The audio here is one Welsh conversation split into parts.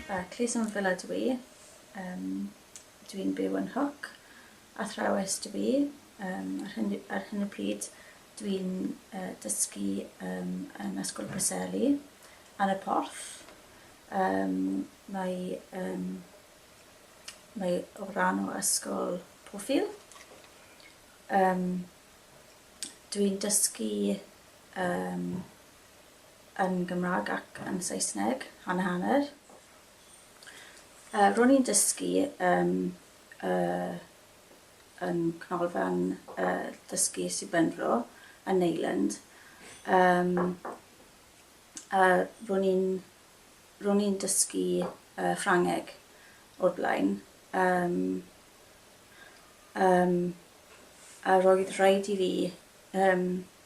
Yy, Clusen Villa dw i. Yym, dw i'n byw yn Hook. Athrawes dw i. Yym, ar hyn, ar hyn y pryd, dw i'n uh, dysgu um, yn Ysgol Preseli, ar y porth. Um, mae, um, mae o ran o ysgol Pwffil. Um, dw i'n dysgu um, yn Gymraeg ac yn Saesneg, hanner hanner. Uh, ro'n i'n dysgu um, uh, yn Cnolfan uh, Dysgu Sir Benfro yn Neyland. Um, uh, ro'n i'n ro'n i'n dysgu uh, Ffrangeg o'r blaen. Um, um, a roedd rhaid i fi um,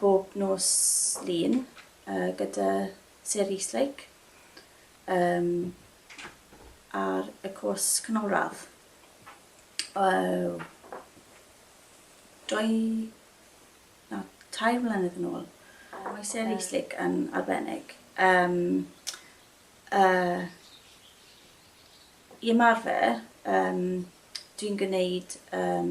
bob nos Lun yy gyda Sarah Eastlake yym ar y cwrs canolradd. Yy dwy na tair mlynedd yn ôl. Mae Sarah Eastlake yn arbennig yym yy i ymarfer yym dwi'n gwneud yym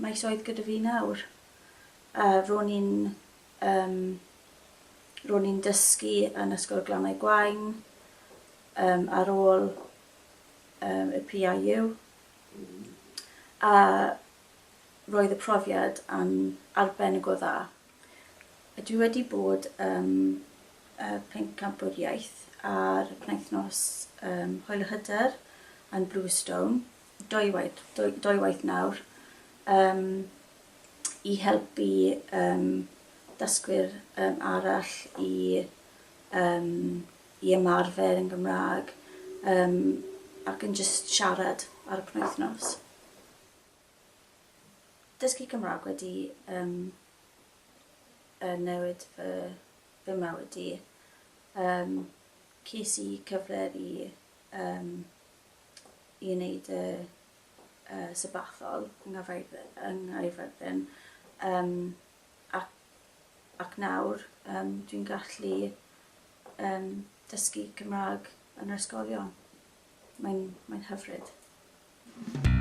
Maes oedd gyda fi nawr. A ro'n i'n yym ro'n i'n dysgu yn Ysgol Glannau Gwaun yym ar ôl yym y PIU a roedd y profiad yn arbennig o dda. A dwi wedi bod ym y Pencampwr Iaith ar y penwythnos yym Hwyl y Hyder yn Bluestone. dwywaith, dwywaith nawr um, i helpu um, dysgwyr um, arall i, um, i ymarfer yn Gymraeg um, ac yn just siarad ar y penwythnos. Dysgu Cymraeg wedi um, uh, newid fy, fy mywyd i. Um, ces i cyfle i um, i wneud y y Sabbathol yng Nghaerfyrddin yng Nghaerfyrddin yym ac ac nawr yym dwi'n gallu yym dysgu Cymrâg yn yr ysgolion. Mae'n mae'n hyfryd.